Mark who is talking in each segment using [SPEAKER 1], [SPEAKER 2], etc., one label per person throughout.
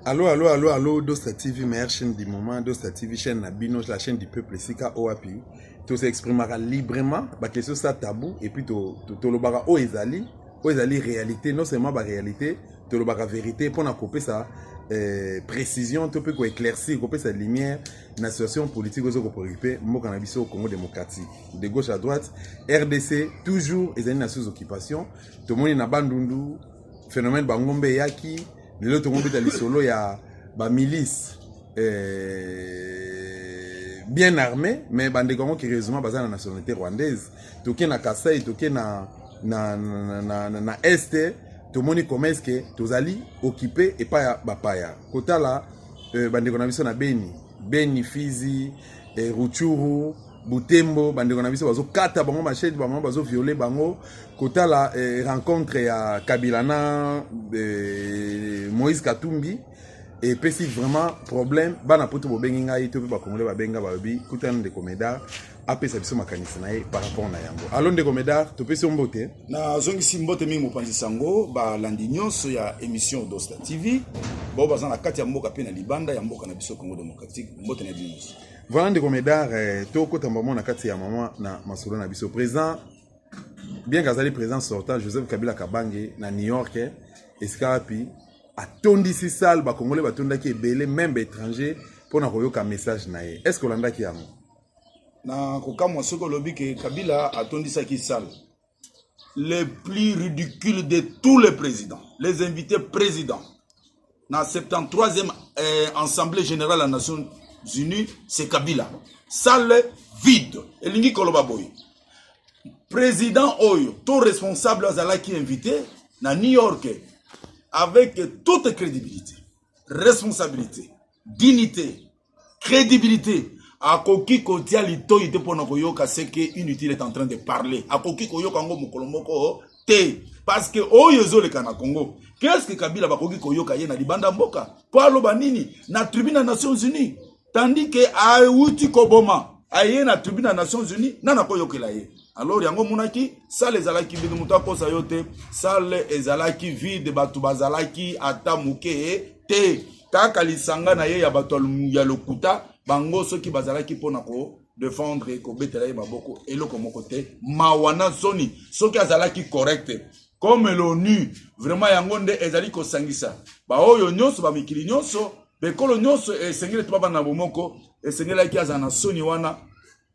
[SPEAKER 1] Allô, allô, allô, allô, Dosta TV, meilleure chaîne du moment, Dosta TV, chaîne na bino, la chaîne du peuple, Sika OAPI. Tout s'exprimera librement, ba question ça tabou, et puis to, to, to lobara o ezali, o ezali réalité, non seulement ba réalité, tolobaka verite mpo na kopesa eh, précision to mpe koéclaircir kopesa lumière na situation politique ozo kopreocupe mboka na biso congo démocratique de gauche à droite rdc toujours ezali na sous occupation tomoni na bandundu phénomène bangombe eyaki lelo tokobeta lisolo ya bamilice eh, bien armé mais bandeko yango curieusement baza na nationalité rwandaise toke na kasai toke na, na, na, na, na, na este tomoni comment est-ce que tozali occupe epai ya bapaya kotala euh, bandeko na biso na beni beni fizi eh, ruchuru butembo bandeko na biso bazokata bango machete bango bazoviole bango kotala eh, rencontre ya kabila na eh, moïse katumbi epesi vraiment problème bana poto bobengi ngai to mpe bakongole babenga balobi kuta na ndeko medar apesa biso makanisi na ye par rapport na yango alo ndeko medar topesi yo mbote nazongisi mbote
[SPEAKER 2] mingi mopanzi sango balandi nyonso ya émission odosta tv bao baza na kati ya mboka mpe na libanda ya mboka na biso congo démocratique mbote na bino nyonso voilà ndeko medar
[SPEAKER 1] eh, tokota mbamo na kati ya mama na masolo na biso président bien kazali président sortant joseph kabila kabange na new york eh, esika wapi atondisi salle ba congolais batondaki ebele meme ba étranger mpo na koyoka message na ye est ce que olandaki yango na
[SPEAKER 2] kokamwa soki olobi ke kabila atondisaki salle le plus ridicule de tous les présidents les invités présidents na 73e eh, assemblée générale ya nations unies c'est kabila salle vide elingi koloba boye président oyo to responsable azalaki invité na new york avec toute crédibilité responsabilité dignité crédibilité akoki kotia litoi te mpo na koyoka seke inutile est en train de parler akoki koyoka yango mokolo moko te parce que oyo ezoleka na congo qu'est ce que kabila bakoki koyoka ye na libanda mboka mpo aloba nini na tribune ya nations unies tandis que awuti koboma aye na tribune ya nations unis nani akoyokela ye alors yango omonaki sale ezalaki vide moto akosa yo te sale ezalaki vide bato bazalaki ata moke te kaka lisanga na ye ya bato ya lokuta bango soki bazalaki mpo na ko defendre kobetela ye maboko eloko moko te mawa na soni soki azalaki correcte comme l'onu vraiment yango nde ezali kosangisa baoyo nyonso bamikili nyonso Ekolo nyonso eh, esengeli ete babanda na bomoko, esengelaki azala na soni wana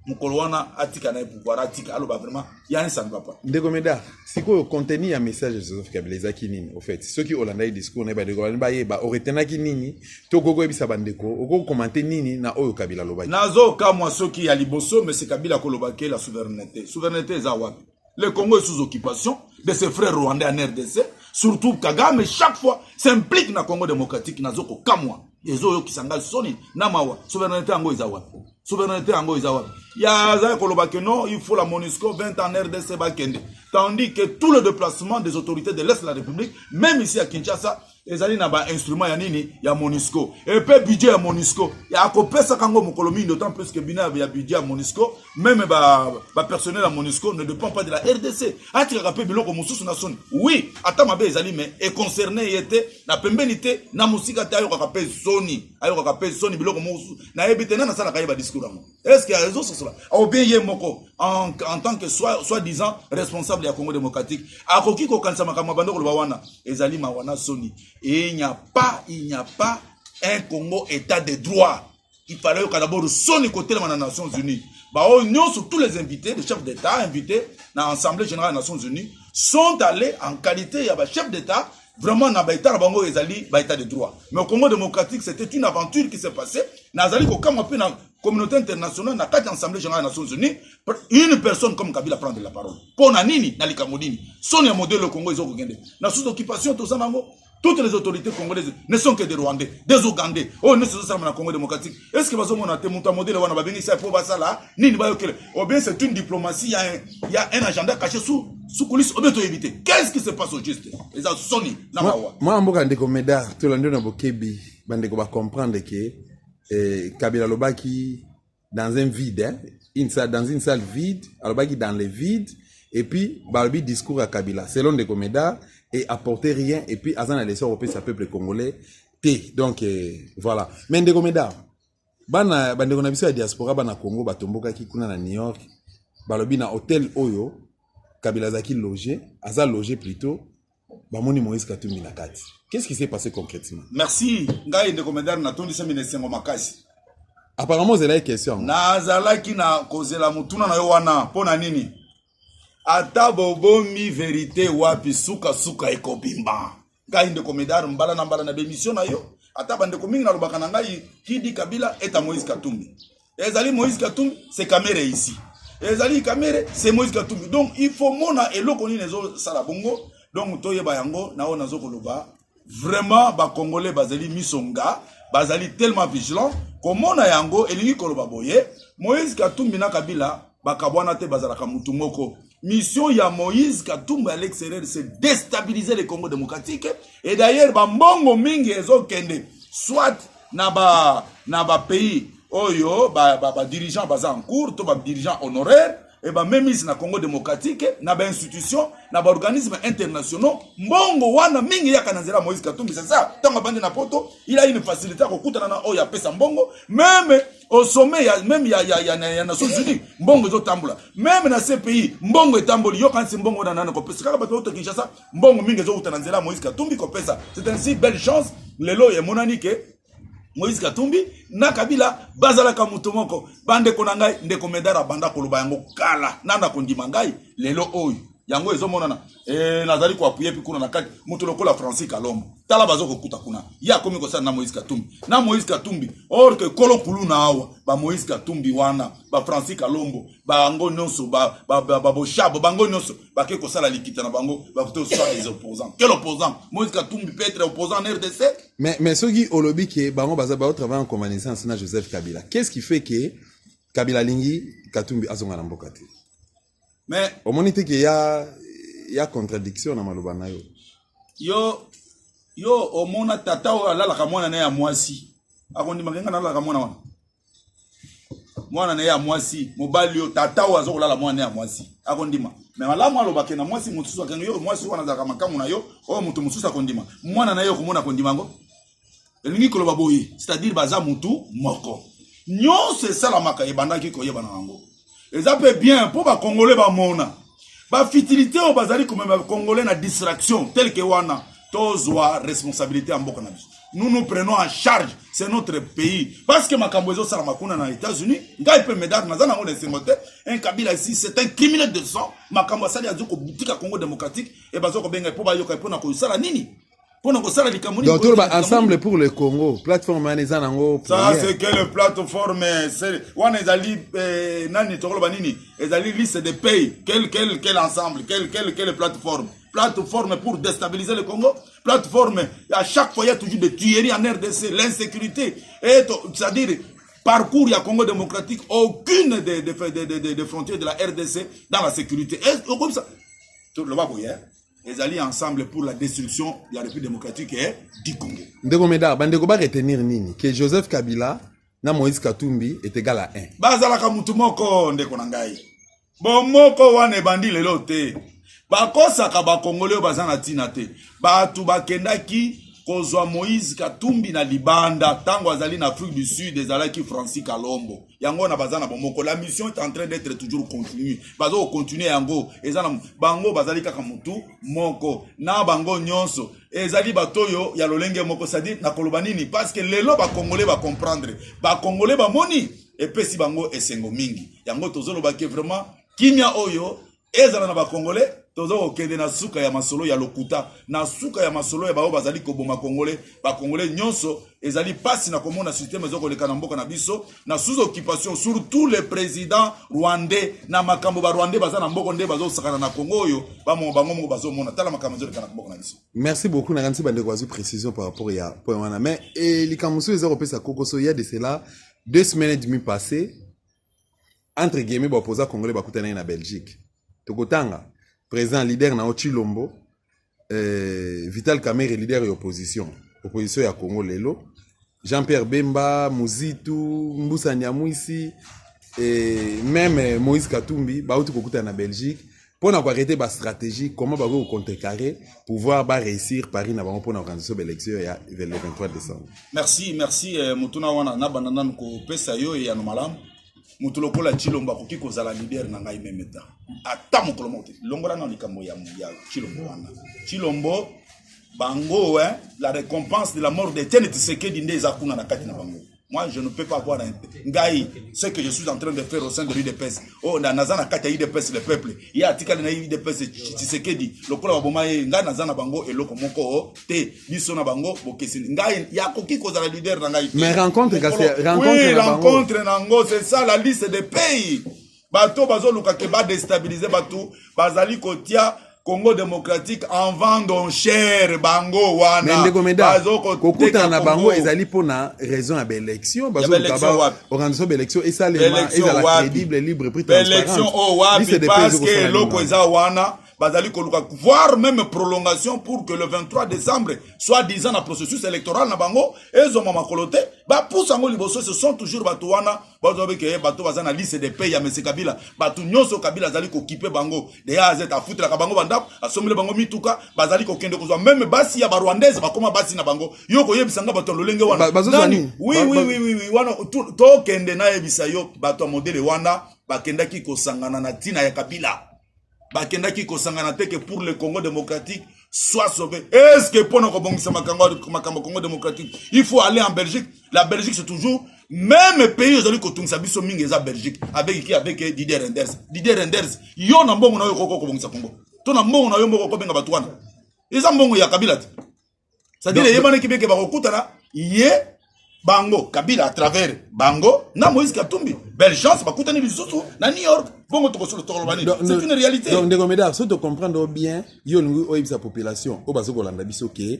[SPEAKER 2] mokolo wana atika na ye pouvoir atika aloba vraiment ya ne sami papa ndeko meda sikoyo
[SPEAKER 1] contenu ya message ya joseph kabila ezalaki nini au fait soki olandaki discours na ye bandeko bani bayeba oretenaki nini to okoki koyebisa bandeko okoki kokomante nini na oyo kabila alobaki nazokamwa soki
[SPEAKER 2] ya liboso mese kabila akoloba ke la souveraineté souveraineté eza wapi Le Congo est sous occupation de ses frères rwandais en RDC. Surtout Kagame, chaque fois, s'implique na Congo démocratique, na zoko kamwa. Ezo yo kisanga soni, na mawa. Souveraineté ango eza wapi? Souveraineté ango eza wapi? Ya za koloba que non, il faut la MONUSCO 20 ans en RDC bakende. Tandis que tout le déplacement des autorités de l'Est de la République, même ici à Kinshasa, ezali na ba instrument ya nini ya monisco epe budget ya monisco akopesaka yango mokolo mingi d'autant plus que bina ya budget ya monisco meme ba, ba personnel ya monisco ne dépend pas de la rdc atikaka mpe biloko mosusu na soni oui ata mabe ezali me econcerne ye te na pembeni te na mosika te ayokaka mpe soni ayokaka mpe soni biloko mosusu nayebi te nani asalaka ye badiscour yango est ce que azososola au bien ye moko en, en tant que soit, soit disant responsable ya congo démocratique akoki kokanisa makambo ya bando koloba wana ezali mawa na soni et il n'y a pas il n'y a pas un congo état de droit il fallait oyoka d'abord soni kotelema na nations unies baoyo nyonso tous les invités les chefs d'état invités na assemblée générale ya nations unies sont allés en qualité ya bachef d'état vraiment na baetat na bango ezali baetat de droit mais au congo démocratique c'était une aventure qui s'est passée nazali kokamwa mpe na communauté internationale na kati ya assemblée générale ya nations unies une personne comme kabila prendre la parole mpo na nini na likambo nini soni ya modele ya congo ezokokende na sous occupation toza na yango toutes les autorités congolaises ne sont que des rwandais des ougandais oyo nyonso ezosalama na congo démocratique est ce que bazomona te moto ya modele wana babengisa mpo basala nini bayokela obien c'est une diplomatie ya, ya un agenda caché sous sous coulisse obien toyebi te qu'est-ce qui se passe au juste eza soni na mawa mwana mboka ndeko meda
[SPEAKER 1] tolandi yo na bokebi bandeko bacomprendre ke eh, kabila alobaki dans un vide hein? une salle, dans une salle vide alobaki dans le vide et puis balobi discours ya kabila selon ndeko meda et apporter rien et puis aza na leso kopesa peuple congolais te donc eh, voilà mais ndeko meda bana bandeko na biso ya diaspora bana congo batombokaki kuna na new york balobi na hotel oyo kabila azalaki loge aza loge plutôt bamoni moïse katumbi na kati qu'est ce qui s'est passé concrètement merci ngai
[SPEAKER 2] ndeko medar natondisami na esengo makasi apparemment
[SPEAKER 1] ozelaki question yango nazalaki na
[SPEAKER 2] kozela motuna na yo wana mpo na nini ata bobombi verite wapi suka suka ekobimba ngai ndeko medar mbala na mbala na bemission na yo ata bandeko mingi nalobaka na ngai kidi kabila eta moïse katumbi ezali moïse katumbi se kamere ici ezali kamere se moïse katumbi donc il faut mona eloko nini ezosala bongo donc toyeba yango na oyo nazo koloba vraiment ba congolais bazali miso nga bazali tellement vigilant komona yango elingi koloba boye moïse katumbi na kabila bakabwana te bazalaka motu moko mission ya moïse katumbi à l'extérieur c'est déstabiliser le congo démocratique et d'ailleurs bambongo mingi ezokende soit na ba na ba pays oyo badirigeant ba, ba baza en cours to badirigeant honoraire e bamemisi na congo démocratique na bainstitution na baorganisme internationaux mbongo wana mingi eyaka na nzela moïse katumbi sasa ntango abandi na poto il a une facilité ya kokutana na oyo apesa mbongo meme au sommet ya meme ya, ya, ya, ya nations unis mbongo ezotambola meme na cpi mbongo etamboli yokanisi mbongo wana nani kopesa kaka bato auto kinshasa mbongo mingi ezowuta na nzela moïse katumbi kopesa c'est ainsi belle chance lelo emonani ke moïse katumbi na kabila bazalaka moto moko bandeko na ngai ndeko medar abanda koloba yango kala nana kondima ngai lelo oyo yango ezomonana e, nazali koapuye mpe kuna na kati moto lokola francis kalombo tala bazokokuta kuna ye akomi kosala na moïse katumbi na moïse katumbi or ke kolo kuluna awa ba moïse katumbi wana ba francis kalombo bango nyonso baboshabo ba, ba, ba bango nyonso bake kosala likita na bango bakuti osala les opposants quel opposant moïse katumbi peut être opposant en rdc mais, mais soki
[SPEAKER 1] olobi ke bango baza baotravaille en convalescence na joseph kabila qu'est ce qui fait ke kabila alingi katumbi azonga na mboka te mais
[SPEAKER 2] omoni te ke ya
[SPEAKER 1] ya contradiction na maloba na yo yo yo omona tata oyo alalaka mwana na ya mwasi akondimaka nga nalalaka mwana wana mwana na ye ya mwasi mobali oyo tata oyo aza kolala mwana na ye ya mwasi akondima me malamu alobake na mwasi mosusu akengi yo mwasi wana azalaka makambo na yo oyo moto mosusu akondima mwana na ye okomona akondima yango elingi koloba boye c'est-à-dire baza motu moko nyonso esalamaka ebandaki koyebana yango eza mpe bien mpo bakongole bamona bafitilité oyo bazali komema bakongole na distraction telke wana tozwa responsabilité ya mboka na biso nous nous prenons en charge c'est notre pays parce que makambo ezosalama kuna na états-unis ngai mpe medar naza nango na esengo te un kabila ici c'est un criminel de sang makambo asali azo kotika congo démocratique e bazo kobenga mpo bayoka mpo na kosala nini pona kosala likambo nini donc toloba ensemble pour le congo plateforme wana eza nango ça c'est quelle
[SPEAKER 2] plateforme wana ezali eh, nani tokoloba nini ezali liste de pays quel quel quel ensemble quel quel quelle plateforme plateforme pour déstabiliser le Congo, plateforme, à chaque fois, il y a toujours des tueries en RDC, l'insécurité, c'est-à-dire parcours ya Congo démocratique, aucune des, des, des, des, des frontières de la RDC dans la sécurité. Et comme ça, tout le monde, ezali ensemble pour la destruction de la république démocratique et du congo ndeko meda bandeko
[SPEAKER 1] baretenir nini ke joseph kabila na moïse katumbi est égal à 1 bazalaka motu moko
[SPEAKER 2] ndeko na ngai bomoko wana ebandi lelo te bakosaka bakongoli oyo baza na ntina te bato bakendaki kozwa moïse katumbi na libanda ntango azali na afrique du sud ezalaki francis kalombo yango wana baza na bomoko la mission est en train d'être toujours continue baza kocontinue yango eza na bango bazali kaka motu moko na bango nyonso ezali bato oyo ya lolenge moko cestadire nakoloba nini parce que lelo bacongolais bacomprendre bacongolais bamoni epesi bango esengo mingi yango tozolobaki vraiment kimia oyo ezala na bakongole toza kokende na suka ya masolo ya lokuta na suka ya masolo ya baoyo bazali koboma kongole bakongole nyonso ezali mpasi na komona systeme ezo koleka na mboka na biso na sous occupation surtout le président rwandais na makambo barwandais baza na mboko nde bazosakana na kongo oyo bango moko bazomona tala makambo ezoleka na mboka na biso merci beaucoup nakanisi
[SPEAKER 1] bandeko bazwi précision par rapport ya point wana mais eh, likambo mosusu eza kopesa kokoso ya de cela deux semaines et demi passé entre guillemets baopoza congolais bakutanaki na belgique tokotanga président leader na yo chilombo eh, vital kamere leader ya opposition opposition ya congo lelo jean pierre bemba muzitu mbusa nyamwisi eh, meme moïse katumbi bauti kokutana na belgique mpo na koarrete bastratégie comment bakoki kocontrecarre pouvoir baréussir paris na bango mpo na organisation baélection ya le 23 décembre merci merci
[SPEAKER 2] eh, motuna wana nabanda nanu kopesa yo eyano malamu moto lokola cilombo akoki kozala lider na ngai meme ta ata mokolo moko te longola nao likambo ya cilombo wana cilombo bango eh, la récompense de la mort de tiene tisekedi nde eza kuna na kati na bango Moi, je ne peux pas voir un... Ngai, ce que je suis en train de faire au sein de l'UDPS. Oh, na naza na kati ya UDPS le peuple. Ya atikali na UDPS Tshisekedi. Lokola baboma ye, ngai naza na bango eloko moko oh, te. Biso na bango bokesini. Ngai ya koki kozala leader na ngai. Mais rencontre kasi rencontre
[SPEAKER 1] oui, na bango. Oui,
[SPEAKER 2] rencontre na ngo, c'est ça la liste des pays. bato oyo bazoluka ke badestabilize bato bazali kotia congo démocratique en vende en chair bango wana ndeko meda
[SPEAKER 1] kokutana na bango ezali mpo na raison ya baélection baorganisation baélection esalema ezala crédible libre prix transparente oyo wapi
[SPEAKER 2] parce que eloko eza wana bazali koluka voire même prolongation pour que le 23 décembre soit disant na processus électoral na bango ezwama makolo te bapusa yango liboso ce sont toujours bato wana bazo beke eh, bato baza na liste de paye ya mese kabila bato nyonso kabila azali kokipe bango de a azeta afutelaka bango bandako asombele bango mituka bazali kokende kozwa meme basi ya barwandaise bakoma basi na bango yo koyebisa nga bato ya lolenge wana nani wiwiwiwi wana tokende nayebisa yo bato ya modele wana bakendaki kosangana na ntina ya kabila bakendaki kosangana te ke pour le congo démocratique soit sauvé est ce que mpo na kobongisa makambo congo démocratique il faut aller en belgique la belgique c'est toujours meme pays ezali kotungisa biso mingi eza belgique avec ki avec didier renders didier renders yo na mbongo na yo okoki kobongisa congo to na mbongo na yo moko okobenga bato wana eza mbongo ya kabila te sadire eyebanaki beke bakokutana ye bango kabila à travers bango na moïse katumbi belle chance bakutani lisusu na new york bongo tokosolo tokoloba nini c'est une réalité donc ndeko medar so tocomprendre
[SPEAKER 1] bien yo olingi oyebisa population oyo bazo kolanda biso ke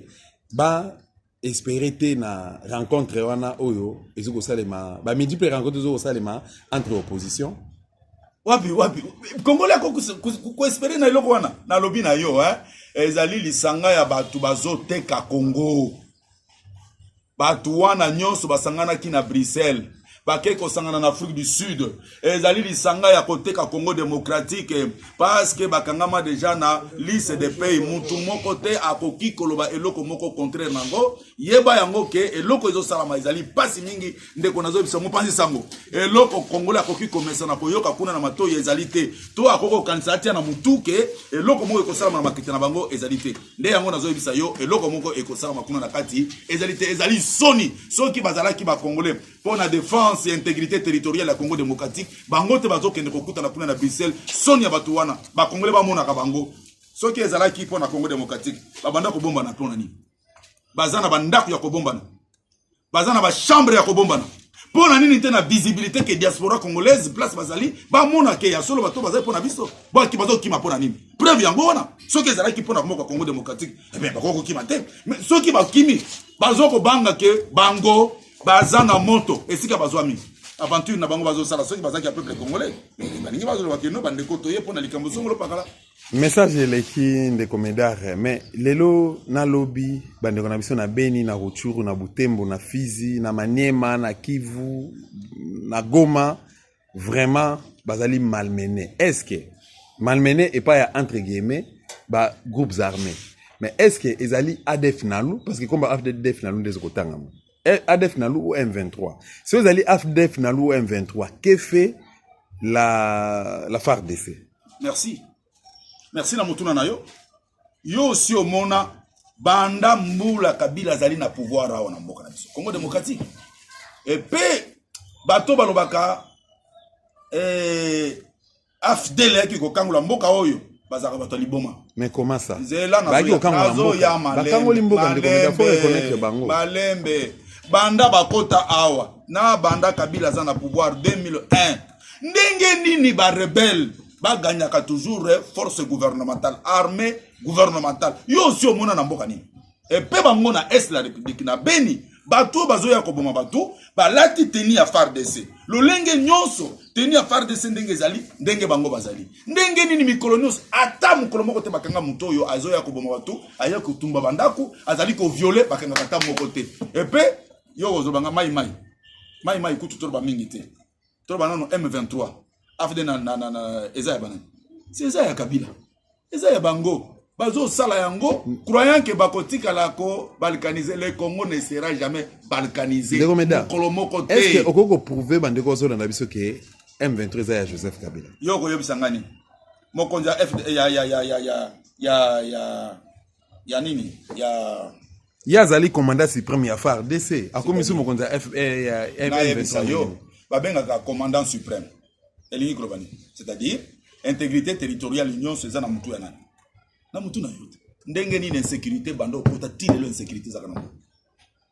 [SPEAKER 1] ba espere te na rencontre wana oyo ezo kosalema bamidi mpe rencontre ezo kosalema entre opposition wapi
[SPEAKER 2] wapi kongole ako koespere na eloko wana nalobi na yo eh? ezali lisanga ya bato bazoteka kongo bato wana nyonso basanganaki na bruxelles bakei kosangana na afrique du sud ezali lisanga ya koteka congo démocratique parceke bakangama deja na liste de pays mutu moko te akoki koloba eloko moko contraire na yango yeba yango ke eloko ezosalama ezali mpasi mingi ndeko nazobisa mopanzi sango eloko kongola akoki komesana koyoka kuna na matoi ezali te to akoki kokanisa atia na motu ke eloko moko ekosalama na makita na bango ezali te nde yango nazoyebisa yo eloko moko ekosalama kuna na kati ezali te ezali soni soki bazalaki bakongole mpo na defense ya integrité territoriale ya congo démocratique bango te bazokende kokutana kuna na bruxelles soni ya bato wana bakongole bamonaka bango soki ezalaki mpo na congo démocratique babanda kobombana mpo na nini baza na bandako ya kobombana baza na bachambre ya kobombana mpo na nini te na visibilité ke diaspora congolaise place bazali bamona ke ya solo bato bazali mpo na biso baki bazokima mpo na nini preuve yango wana soki ezalaki mpo na mboka congo démocratique ebe eh bakoki kokima te soki bakimi bazo kobanga ke bango baza na moto esika bazwa mingi aventure na bango bazosala soki bazalaki ya peuple congolais balingi bazoloba keno bandeko toye mpo na likambo songolo pakala message eleki
[SPEAKER 1] ndeko medare mais lelo na lobi bandeko na biso na beni na ruchuru na butembo na fizi na maniema na kivu na goma vraiment bazali malmene est ce que malmene epai ya entre guillemets ba groupes armés mais est ce que ezali adf nalu parce que komba adf nalu nde ezokotangama eh, adf nalu ou m23 so ezali adf nalu ou m23 que fait la, la fardc merci
[SPEAKER 2] merci na motuna na yo yo osi omona banda mbula kabila azali na pouvoir awa na mboka na biso congo démocratique epe bato balobaka eh, afdel eyaki kokangola mboka oyo bazalaka bato ya liboma mais comment ça
[SPEAKER 1] nzela
[SPEAKER 2] nazoyambakango mboka ndeko bango malembe banda bakota awa na banda kabila aza na pouvoir 2001 ndenge nini ba rebelle baganyaka toujours eh, force gouvernementale armée gouvernementale yo osi omona na mboka nini epe bango na est la république na beni bato oyo bazoya koboma bato balati teni ya fardc lolenge nyonso teni ya fardc ndenge ezali ndenge bango bazali ndenge nini mikolo nyonso ata mokolo moko te bakanga moto oyo azoya koboma bato aya kotumba bandako azali koviole bakangaka ata moko te epe yo kozobanga mai mai mai mai kutu toloba mingi te toloba nano m23 afd na, na, na, na eza ya banani si eza ya kabila eza ya bango bazosala yango croyant ke bakotikala kobalkanise le congo ne sera jamais balkanisemokolo moko te
[SPEAKER 1] okoki koprouve bandeko ozolanda biso ke m23 eza ya joseph kabila yo okoyebisa ngani
[SPEAKER 2] mokonzi ya, ya, ya, ya, ya, ya, ya ya nini ya ye
[SPEAKER 1] azali commandant supreme ya fardc akomi so mokonzi ya fmvesa yo babengaka
[SPEAKER 2] commandant supreme elingi koloba nini c'est-à-dire intégrité territoriale nyonso eza na motu ya nani na motu na yo te ndenge nini insécurité banda okota ti lelo insécurité ezaka na motu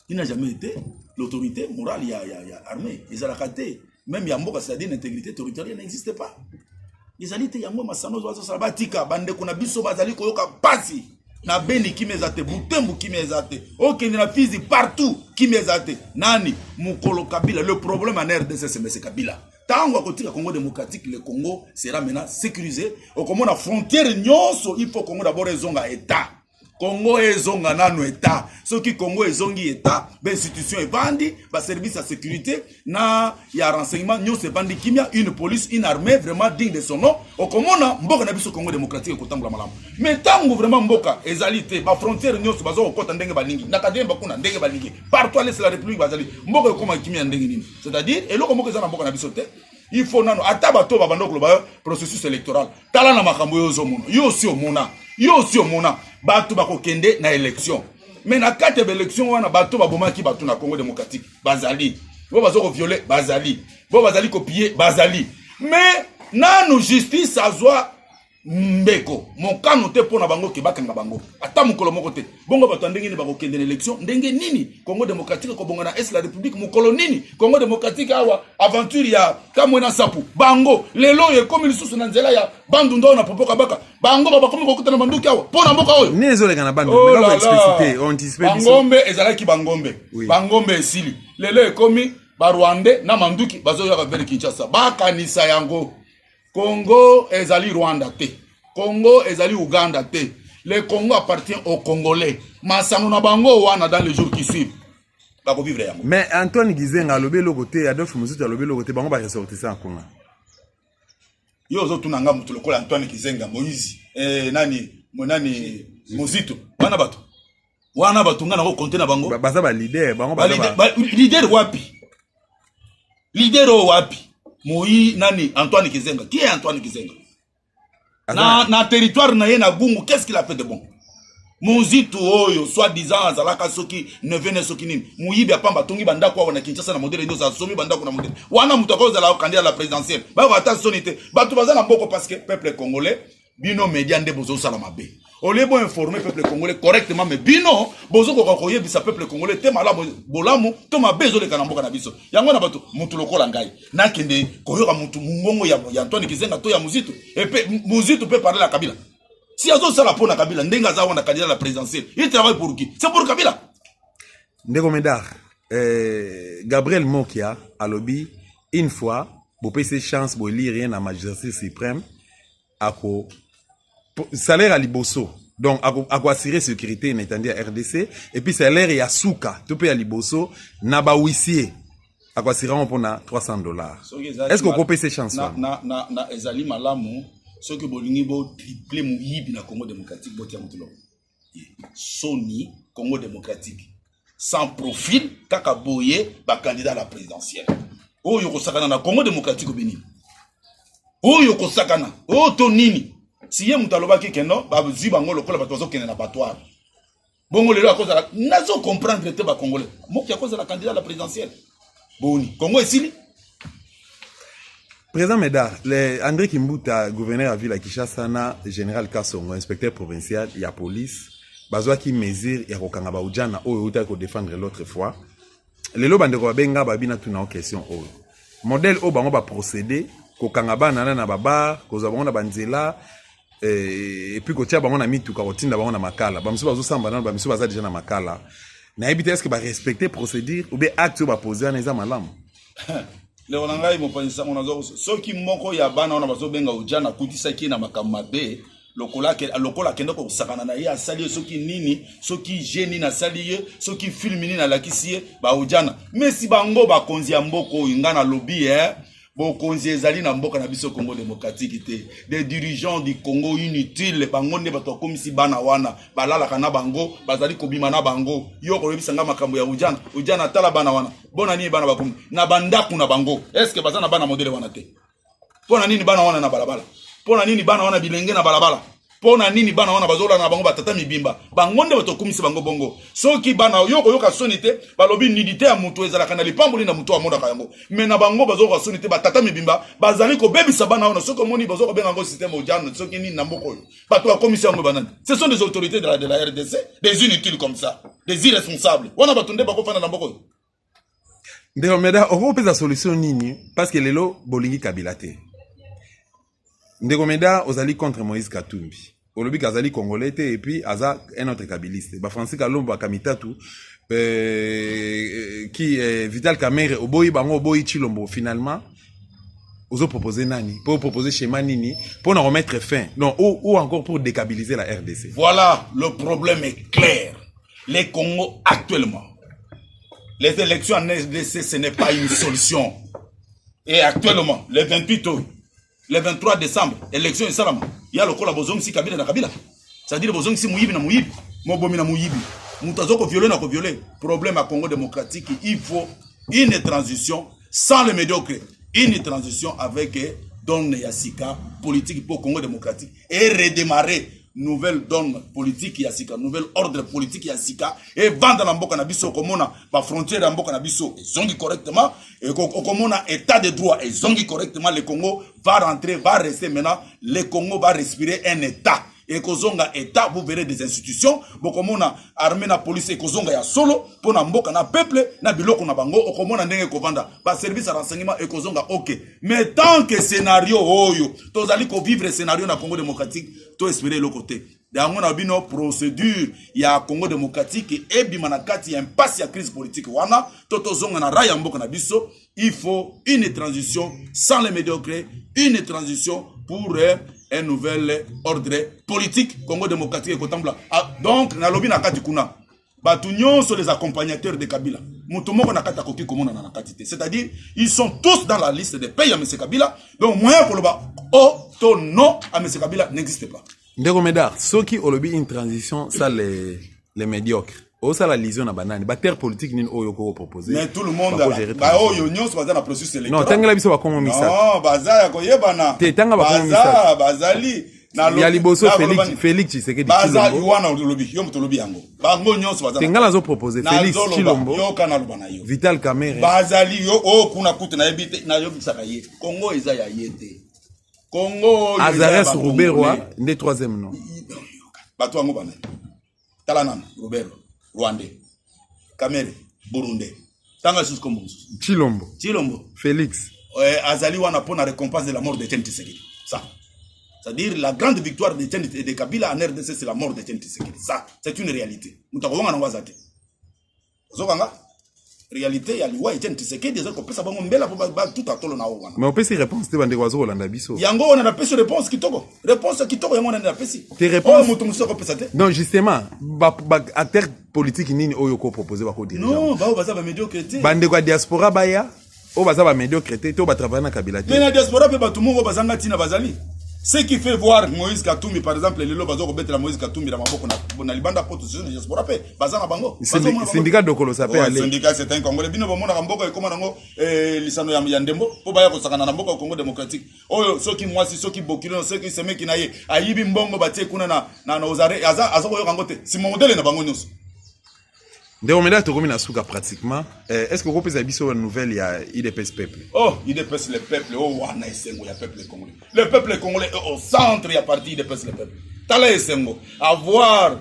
[SPEAKER 2] il n'a jamais été l'autorité morale ya, ya, ya armée ezalaka te même ya mboka c'est-à-dire l'intégrité territoriale n'existe pas ezali te yango masano ozo azosala batika bandeko na biso bazali koyoka mpasi na beni kimia eza te butembu kimia eza te okende na fizi partout kimia eza te nani mokolo kabila le problème en rdc semese kabila ntango akotika congo démocratique le congo sera maintenant sécurisé okomona frontière nyonso il faut congo d'abord ezonga état congo ezonga nano etat soki congo ezongi etat bainstitution evandi baservice ya sécurité na ya renseignement nyonso evandi kimia une police une armée vraiment digne de son nom okomona mboka na biso congo démocratique ekotambola malamu mais ntango vraiment mboka ezali te bafrontière nyonso baza kokɔta ndenge balingi na kademba kuna ndenge balingi partout alesi la république bazali mboka ekoma kimia ya ndenge nini c'est à dire eloko moko eza na mboka na biso te il faut nano ata bato babanda koloba eh, processus électoral tala na makambo yo ozomona yo osi omona yo osi omona bato bakokende na élection mais na kati ya baélection wana bato babomaki bato na congo démocratique bazali bo baza koviole bazali bo bazali kopie bazali mais nanu justice azwa ndeko mokano te mpo na bango ke bakanga bango ata mokolo moko te bongo bato ya ndenge nini bakokende na élection ndenge nini congo démocratique ekobonga na est la république mokolo nini congo démocratique awa aventure ya kamwe na sapu bango lelo oyo ekomi lisusu na nzela ya bandunda oyo na popo kabaka bango babakomi kokuta na banduki awa mpo na mboka oyo nini ezoleka na
[SPEAKER 1] bandbangombe oh ezalaki
[SPEAKER 2] bangombe bangombe esili lelo ekomi barwandais na manduki bazoyaka vele kinshasa bakanisa yango Congo ezali Rwanda te. Congo ezali Ouganda te. Le Congo appartient aux Congolais. Masango na bango wana dans les jours qui suivent. Bako vivre yango. Mais Antoine Gizenga
[SPEAKER 1] alobi eloko te, Adolphe Musutu alobi eloko te, bango ba ressortissants ya Congo.
[SPEAKER 2] Yo ozotuna nga moto lokola Antoine Gizenga, Moïse, eh, nani, mo nani, Mozito, bana bato. wana bato nga nako konte na bango baza balider bango
[SPEAKER 1] lider wapi
[SPEAKER 2] lider oyo wapi moi nani antoine kizenga qui est antoine kizenga na, na territoire na ye na gungu qu'est ce qu'il a fait de bon monzitu oyo soit disant azalaka soki neve ne soki nini moyibi apamba atongi bandako awa na kinshasa na modele nyoso asomi bandako na modele wana moto akozala kandida la présidentielle bayoka ata soni te bato baza na mboko parce que peuple congolais bino media nde bozosala mabe olie bo informe peuple congolais correctement mais bino bozokoka koyebisa peuple congolais te malamu bolamu to mabe ezoleka na mboka na biso yango na bato motu lokola ngai nakende koyoka motu mongongo ya, ya antoine kizenga to ya mozitu epe mozitu mpe parle ya kabila si azosala mpo na kabila ndenge aza wana candidat la présidentielle il travaille pour qui c'est pour kabila ndeko
[SPEAKER 1] medar eh, gabriel mokia alobi une fois bopesi chance bolire ye na magistrat suprême ako salaire ya liboso donc akoassure sécurité na etandi ya rdc epuis salaire ya suka to mpe ya liboso na bahuissier akoassure yango mpo na 300 dollars est ce que okopesa chance wana ezali
[SPEAKER 2] malamu soki bolingi botriple moyibi na congo démocratique botia motuloko soni congo démocratique sans profil kaka boye bacandidat na présidentielle oyo kosakana na congo démocratique obe nini oyo kosakana oyo to nini siye moto alobaki keno bazwi bango lokola bato bazokende na batoire bongo lelo akozala nazo comprendre te bacongolais moki akozala candidat na présidentielle boni congo esili
[SPEAKER 1] président médard le andré kimbuta gouverneur ya ville ya kinshasa na général kasongo inspecteur provincial ya police bazwaki mesure ya kokanga baujana oyo eutaki kodefendre l'autre fois lelo bandeko babenga babi natuna o question oyo modèle oyo bango baprocédé kokanga bana na na babar kozwa bango na banzela eh, epuis kotia bango na mituka kotinda bango na makala bamisu bazosamba nano bamisu baza deja na makala nayebi te eske barespecte procédure oubien acte oyo bapose wana eza malamu
[SPEAKER 2] lelo na ngai mopanzi sango nazo soki moko ya bana wana bazobenga oja nakutisaki ye na makambo mabe lokola lokola akende kosakana na ye asali ye soki nini soki je nini asali ye soki filme nini alakisi ye baojana mesi bango bakonzi ya mboka oyo ngai nalobi e eh? bokonzi ezali na mboka na biso congo démocratique te des dirigeants du congo inutile bango nde bato bakomisi bana wana balalaka na bango bazali kobima na bango yo okoyebisa ngai makambo ya ujana ujana atala bana wana bona nini bana bakomi na bandako na bango estce baza na bana modele wana te mpo na nini bana wana na balabala mpo na nini bana wana bilenge na balabala mpo na nini bana wana bazolanda na bango batata mibimba bango nde bato okumisi bango bongo soki bana yo okoyoka soni te balobi nidite ya moto ezalaka na lipamboli na moto amonaka yango me na bango bazoyoka soni te batata mibimba bazali kobebisa bana wana soki omoni bazo kobenga yango systeme ojano soki nini na mboka oyo bato bakomisi yango banani ce sont des autorités de la, de la rdc des inutiles comme ça des irresponsables wana bato nde bakofanda na mboka oyo
[SPEAKER 1] ndeko meda okopesa solution nini parce que lelo bolingi kabila te ndeko meda ozali contre moïse katumbi olobi ke azali congolais te epuis aza un autre kabiliste bafrancis kalombo akamitatu euh, ki euh, vital kamere oboyi bango oboyi chilombo finalement ozopropose nani mpo opropose schéma nini mpo na komettre fin donc ou, ou encore pour décabiliser la rdc voilà le
[SPEAKER 2] problème est clair Le Congo actuellement, les élections en RDC, ce n'est pas une solution. Et actuellement, le 28 août, le 23 décembre, élection esalama, ya lokola bozongisi Kabila na Kabila. C'est-à-dire bozongisi muyibi na muyibi, mobomi na muyibi. Moto azoko violer na ko violer. Problème à Congo démocratique, il faut une transition sans le médiocre, une transition avec Don Yasika, politique pour Congo démocratique. e redemare nouvelle donne politique ya sika nouvelle ordre politique ya sika evanda na mboka na biso okomona bafrontière ya mboka na biso ezongi correctement okomona état de droit ezongi correctement le congo va rentrer va rester maintenant le congo va respirer un état ekozonga état vous verrez des institutions bokomona armée na police ekozonga ya solo mpo na mboka na peuple na biloko na bango okomona ndenge ekovanda baservice ya renseignement ekozonga ok mais tant que scenario oyo tozali kovivre scenario na congo démocratique to espere eloko te yango na bino procédure ya congo démocratique ebima na kati ya impasi ya crise politique wana to tozonga na rai ya mboka na biso il faut une transition sans les médiocres une transition pour euh, un nouvel ordre politique congo démocratique ekotambola ah, donc nalobi na kati kuna bato nyonso les accompagnateurs de kabila moto moko na kati akoki komonana na kati te c'est-à-dire ils sont tous dans la liste de paye ya mese kabila donc moyen ya koloba o oh, to non a mese kabila n'existe pas ndeko medar soki
[SPEAKER 1] olobi une transition ça les, les médiocres osala lision na banani baterre politique nini oyo okoki kopropose mais tout le monde
[SPEAKER 2] baoyo nyonso baza na processus électoral non tangela biso bakongo misato
[SPEAKER 1] baza ya
[SPEAKER 2] koyebana te tanga bakongo
[SPEAKER 1] misato bazali
[SPEAKER 2] ya liboso
[SPEAKER 1] felix tshisekedi
[SPEAKER 2] te ngai nazo propose felix
[SPEAKER 1] chilombo
[SPEAKER 2] vital kamere bazali
[SPEAKER 1] yo oyo oh,
[SPEAKER 2] kuna kutu nayebi te nayebisaka ye kongo eza ya ye te kongo azares
[SPEAKER 1] ruberwa nde troisième nom bato yango
[SPEAKER 2] banani tala nanu robert rwandais kamere burundais tanga lisusu kombo mosusu chilombo chilombo
[SPEAKER 1] félix eh, azali
[SPEAKER 2] wana mpo na récompense de la mort de chen tisekedi ça c'est-à-dire la grande victoire de chen de kabila en rdc c'est la mort de chen tisekedi ça c'est une réalité moto akowanga nango aza te ozoka nga réalité ya liwa etienne tisekedi ezali kopesa bango mbela mpo batuta tolo na oyo wana mais opesi réponse te bandeko
[SPEAKER 1] bazo kolanda biso yango wana napesi réponse
[SPEAKER 2] kitoko réponse ya kitoko yango wana nde napesi oyo moto mosusu
[SPEAKER 1] akopesa te
[SPEAKER 2] non justement
[SPEAKER 1] baacteur politique nini oyo okopropose bakodirigebaoyo baza bamédiocre
[SPEAKER 2] te bandeko ya diaspora
[SPEAKER 1] baya oyo baza ba médiocre te to ba travailler na kabila te mais na diaspora pe bato moko
[SPEAKER 2] bazanga ntina bazali ce qui fait voir moïse katumbi par exemple lelo baza kobetela moïse katumbi na maboko na libanda mpo tosusu na diaspora mpe baza na bango syndicat dokolosa
[SPEAKER 1] mpe ale syndicat c'est un congolais bino
[SPEAKER 2] bomonaka mboka ekoma nango eh, lisano ya ndembo mpo baya kosakana na mboka ya congo démocratique oyo soki mwasi soki bokilo soki semeki na ye ayibi mbongo batie kuna na ozare aza koyoka yango te simomodele na bango nyonso
[SPEAKER 1] ndeko meda tokomi na suka pratiquement eh, est ce que okopesa biso nouvelle ya idps peuple oh idps le
[SPEAKER 2] peuple o oh, wana esengo ya peuple congolais le peuple congolais est au centre ya parti idps le peuple tala esengo avoir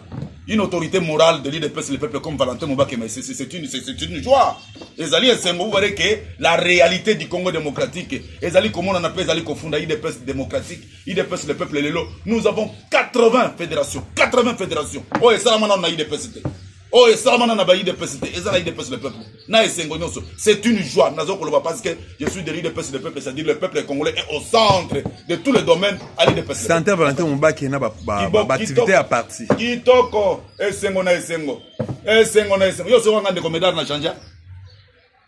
[SPEAKER 2] une autorité morale de l'idps le peuple comme valentin mobakema c'est une, une joie ezali esengo vous voyez que la réalité du congo démocratique ezali komonana mpe ezali kofunda idps démocratique idps le peuple lelo nous avons 80 fédération 80 fédération oyo esalama nano na idps te oyo esalama nano na ba idps te eza na idps le peuple na esengo nyonso c'est une joie nazo koloba parce que je suis de l'idps le peuple c'est-à-dire le peuple congolais est au centre de tous les domaines à l'idps centre valentin mobaki
[SPEAKER 1] na baactivité ya parti kitoko
[SPEAKER 2] esengo na esengo esengo na esengo yo soko nga ndeko medar na change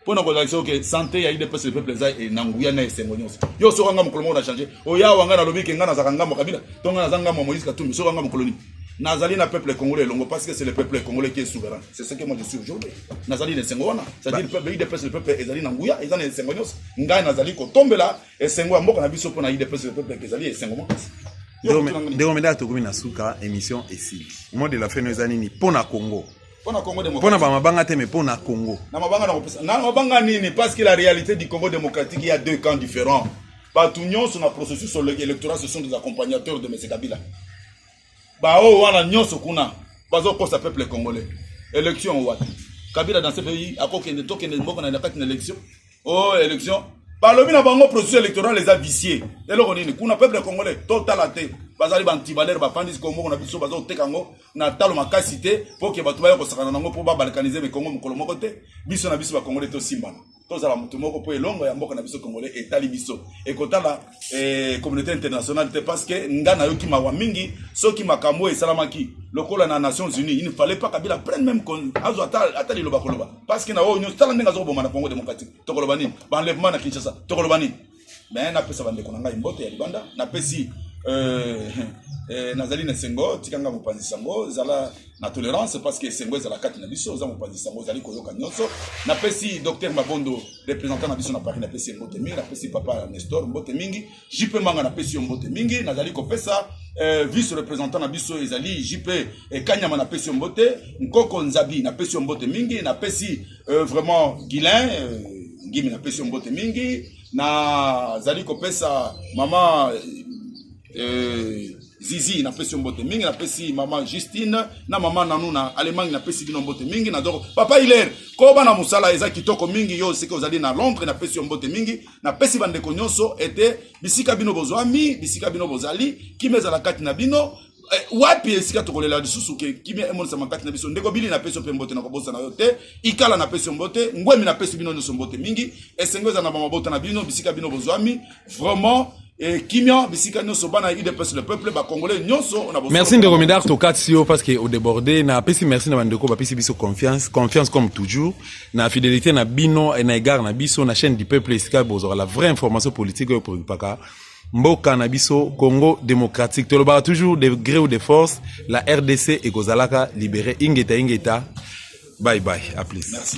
[SPEAKER 2] mpo na kozalisa oke sante ya idps le peuple eza eh, na nguya na esengo nyonso yo soki anga mokolo moko na change oya wanga nalobi ke ngai nazalaka ngambo kabila to ngai naza ngambo ya moïse katumbi soki anga mokolo nini nazali na peuple congolais elongo parce que c'est le peuple congolais qui est souverain c'est ce que moi je suis aujourd'hui nazali na esengo wana c'est-à-dire peuple idps le peuple ezali na nguya eza na esengo nyonso ngai nazali kotombela esengo ya mboka na biso mpo na idps le peuple ezali esengo makasi ndeko
[SPEAKER 1] medaka tokomi na suka émission esili mot de la fin no eza nini mpo na congo Pona Congo démocratique. Pona
[SPEAKER 2] ba mabanga te mais
[SPEAKER 1] pona Congo. Na mabanga na kopesa. Na
[SPEAKER 2] mabanga nini parce que la réalité du Congo démocratique il y a deux camps différents. Bato nyonso na processus électoral ce sont des accompagnateurs de M. Kabila. Baoyo wana nyonso kuna bazokosa peuple congolais. Élection wapi? Kabila dans ce pays akokende tokende mboka na kati na élection oh élection balobi na bango processus électoral eza vicie eloko nini kuna peuple congolais totala te bazali bantibalere bafandisi kongo moko na biso baza koteka yango na talo makasi te mpo ke bato baya kosakana na yango mpo babalkanize mikongo mokolo moko te biso na biso bacongolais tosimbana tozala moto moko mpo elongo ya mboka na biso congolais etali biso ekotala eh, communauté internationale te parce que nga nayoki mawa mingi soki makambo oyo esalamaki lokola na nations unies il ne fallait pas kabila prenne même azwa ata liloba koloba parce que na oyo nyonso tala ndenge azokoboma na congo démocratique tokoloba nini baenlèvement na kinshasa tokoloba nini mais napesa bandeko na ngai mbote ya libanda napesi euh, euh, nazali na esengo tikanga mopanzi sango zala na tolerance parce que esengo ezala kati na biso oza mopanzi sango ozali koyoka nyonso napesi docteur mabondo représentant na biso na paris napesi ye mbote mingi napesi papa nestor mbote mingi jp manga napesi yo mbote mingi nazali kopesa eh, vice représentant na biso ezali jp eh, kanyama napesi yo mbote nkoko nzabi napesi yo mbote mingi napesi eh, vraiment guilin eh, ngimi napesi yo mbote mingi nazali kopesa mama eh, Eh, zizi napesi yo mbote mingi napesi mama justine na mama nanu na allemagne napesi bino mbote mingi na doko papa hilaire koba na mosala eza kitoko mingi yo seke ozali na londres napesi yo mbote mingi napesi bandeko nyonso ete bisika bino bozwami bisika bino bozali kima ezala kati na bino Eh, wapi esika tokolela lisusu ke kimia emonisama kati na biso ndeko bili napesi yo mpe mbote nakobosana yo te ikala napesi yo mbote ngwemi napesi bino nyonso mbote mingi esengo eza na bamabota na bino bisika bino bozwami vraiment eh, kimia bisika nyonso bana ya udps le peuple bacongolais nyonso na merci ndeko midar tokatisi
[SPEAKER 1] yo parce que odeborde napesi merci na bandeko bapesi biso confiance confiance comme toujours na fidélité na bino na égard na biso na chaîne du peuple esika bozwaka la vraie information politique oyo preoccupaka mboka na biso congo démocratique tolobaka toujours de gré ou de force la rdc ekozalaka libéré ingeta ingeta bye bye à plus merci.